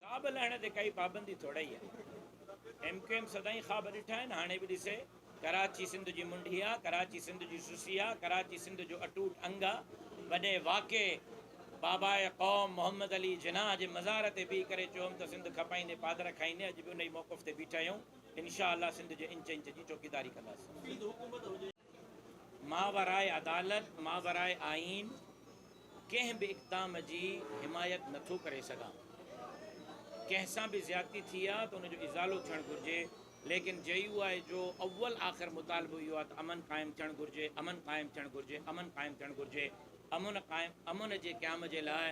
ڪا به لهڻ تي ڪائي پابندي ٿوڙئي آهي. ايم ڪيو ايم سدائين خواب ڏٺا آهن هاڻي به ڏسي. ڪراچي سنڌ جي منڍي آ، ڪراچي سنڌ جي سسي آ، ڪراچي سنڌ جو اٽوٽ انگ آ. وڏي واڪي باباء قوم محمد علي جناح جي مزار تي بيهي ڪري چيو هوم ته سنڌ کپائيندي پادر کائيندي اڄ به انهي موقف تي بيٺا آهيون. انشاء الله سنڌ جي انچ انچ جي چوڪيداري ڪنداسين. ماورائي عدالت، ماورائي آئين، ڪنهن به اقدام جي حمايت نه ٿو ڪري سگهان. ڪنهن سان به زيادتي ٿي آهي ته ان جو ازالو ٿيڻ گهرجي، ليڪن جي يو آء جو اول آخر مطالبو اهو آهي ته امن قائم ٿيڻ گهرجي، امن قائم ٿيڻ گهرجي، امن قائم ٿيڻ گهرجي، امن قائم، امن جي قيام جي لاء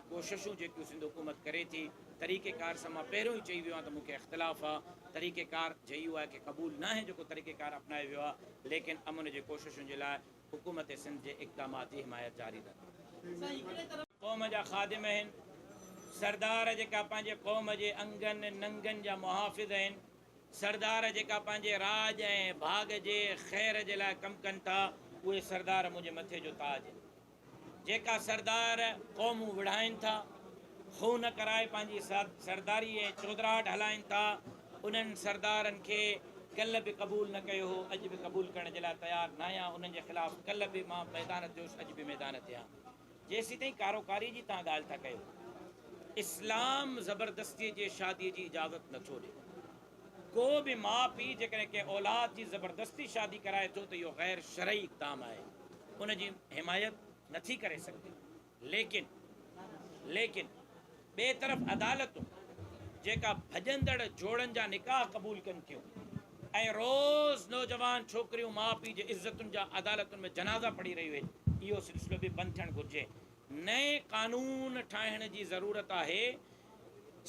ڪوششون جيڪيون سنڌ حڪومت ڪري ٿي طريقي ڪار سان مان پهريون ئي چئي ويو آهيان ته مون کي اختلاف آ طريقي ڪار جي يو آء کي قبول ناهي جيڪو طريقي ڪار اپنايو ويو آ ليڪن امن جي ڪوششن جي لاء حڪومت سنڌ جي اقدامات جي حمايت جاري رهندي. قوم جا خادم اهن سردار جيڪا پنهنجي قوم جي انگن ننگن جا محافظ اهن سردار جيڪا پنهنجي راڄ ۽ ڀاڳ جي خير جي لاء ڪم ڪن ٿا اهي سردار منهنجي مٿي جو تاج اهن جيڪا سردار قومون وڙهائين ٿا، خون ڪرائي پنهنجي سرداريء ۽ چودراهٽ هلائين ٿا، انهن سردارن کي ڪلهه به قبول نه ڪيو هو، اڄ به قبول ڪرڻ جي لاء تيار ناهيان، انهن جي خلاف ڪلهه به مان ميدان تي هوس، اڄ به ميدان تي آهيان. جيسيتائين ڪاروڪاريء جي توهان ڳالهه ٿا ڪيو، اسلام زبردستيء جي شاديء جي اجازت نٿو ڏي. ڪو به ماء پيء جيڪڏهن ڪنهن اولاد جي زبردستي شادي ڪرائي ٿو ته اهو غير شرعي اقدام آهي ان جي حمايت نه ٿي ڪري سگهجي ليڪن ليڪن ٻئي طرف عدالتون جيڪا ڀڄندڙ جوڙن جا نڪاح قبول ڪن ٿيون ۽ روز نوجوان ڇوڪريون ماء پيء جي عزتن جا عدالتن ۾ جنازا پڙهي رهيون آهن اهو سلسلو به بند ٿيڻ گهرجي نئين قانون ٺاهڻ جي ضرورت آهي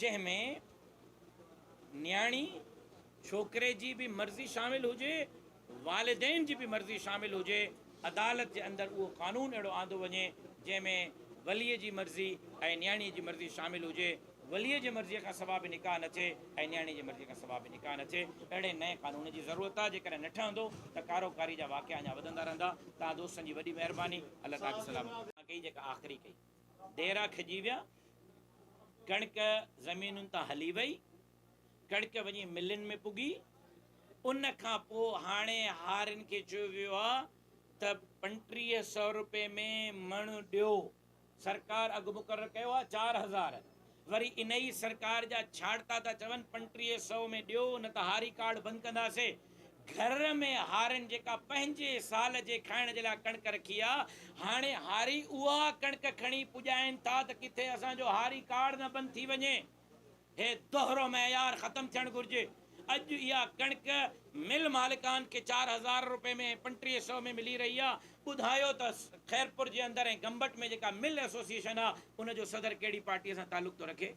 جنهن ۾ نياڻي ڇوڪري جي به مرضي شامل هجي، والدين جي به مرضي شامل هجي، عدالت جي اندر اهو قانون اهڙو آندو وڃي جنهن ۾ ولي جي مرضي ۽ نياڻي جي مرضي شامل هجي، ولي جي مرضي کان سوا به نڪاح نه ٿئي ۽ نياڻي جي مرضي کان سوا به نڪاح نه ٿئي، اهڙي نئين قانون جي ضرورت آهي، جيڪڏهن نه ٺهندو ته ڪارو ڪاري جا واقعا اڃا وڌندا رهندا، توهان دوستن جي وڏي مهرباني، الله توهان کي سلامت رکي. ڪئي جيڪا آخري ڪئي. ديرا کڄي ويا، ڪڻڪ زمينن تان هلي وئي، ڪڻڪ وڃي ملين ۾ پڳي، ان کان پوء هاڻي هارين کي چيو ويو آهي ته پنٽيهه سئو روپيه ۾ مڻ ڏيو، سرڪار اگهه مقرر ڪيو آهي چار هزار، وري انهي سرڪار جا ڇاڙتا ٿا چون پنٽريهه سئو ۾ ڏيو نه ته هاري ڪارڊ بند ڪنداسي گهر ۾ هارين جيڪا پنهنجي سال جي کائڻ جي لاء ڪڻڪ رکي آ هاڻي هاري اها ڪڻڪ کڻي پڄائين ٿا ته ڪٿي اسان جو هاري ڪارڊ نه بند ٿي وڃي هي دوهرو معيار ختم ٿيڻ گهرجي. اڄ اها ڪڻڪ مل مالڪان کي چار هزار روپئي ۾ ۽ پنٽيهه سئو ۾ ملي رهي آهي، ٻڌايو ته خيرپور جي اندر ۽ گمبٽ ۾ جيڪا مل ايسوسيئيشن آهي ان جو صدر ڪهڙي پارٽيء سان تعلق ٿو رکي؟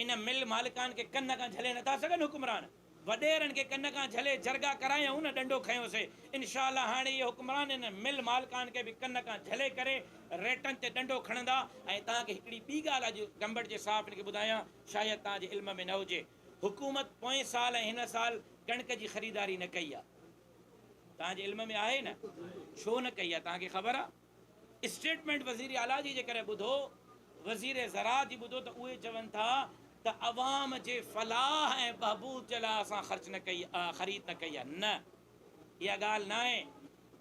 ان مل مالڪان کي ڪن کان جهلي نٿا سگهن حڪمران؟ وڏيرن کي ڪن کان جهلي جرڳا ڪرايائون نه ڏنڊو کنيو سي انشاء الله هاڻي اهي حڪمران انهن مل مالڪان کي به ڪن کان جهلي ڪري ريٽن تي ڏنڊو کڻندا ۽ توهان کي هڪڙي ٻي ڳالهه اڄ گمبٽ جي صحافين کي ٻڌايان شايد توهان جي علم ۾ نه هجي حڪومت پوئين سال ۽ هن سال ڪڻڪ جي خريداري نه ڪئي آ توهان جي علم ۾ آهي نه ڇو نه ڪئي آ توهان کي خبر آ. اسٽيٽمينٽ وزير اعليٰ جي جيڪڏهن ٻڌو، وزير زراعت جي ٻڌو ته اهي چون ٿا ته عوام جي فلاح ۽ بهبود جي لاء اسان خرچ نه ڪئي خريد نه ڪئي آهي، نه اها ڳالهه ناهي،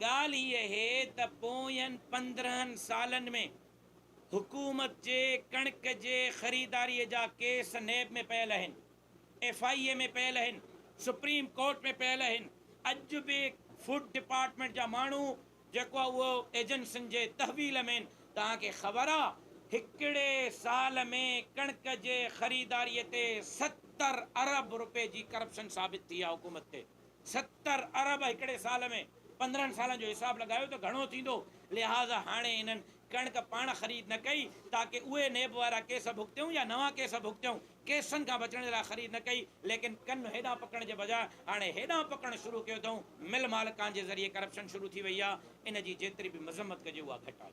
ڳالهه هي اهي ته پوين پندرهن سالن ۾ حڪومت جي ڪڻڪ جي خريداري جا ڪيس نيب ۾ پيل اهن، ايف آء اي ۾ پيل اهن، سپريم ڪورٽ ۾ پيل اهن، اڄ به فوڊ ڊپارٽمينٽ جا ماڻهو جيڪو اهو ايجنسن جي تحويل مين توهان کي خبر آ هڪڙي سال ۾ ڪڻڪ جي خريداري تي ستر ارب روپي جي ڪرپشن ثابت ٿي آ حڪومت تي ستر ارب هڪڙي سال ۾ پندرهن سالن جو حساب لڳايو ته گهڻو ٿيندو لهذا هاڻي انهن ڪڻڪ پاڻ خريد نه ڪئي تاڪه اهي نيب وارا ڪيس ڀڳتيون يا نوان ڪيس ڀڳتيون، ڪيسن کان بچڻ جي لاء خريد نه ڪئي ليڪن ڪن هيڏانهن پڪڻ جي بجاء هاڻي هيڏانهن پڪڻ شروع ڪيو اٿئون، مل مالڪان جي ذريعي ڪرپشن شروع ٿي وئي آهي، ان جي جيتري به مذمت ڪجي اها گهٽ آهي.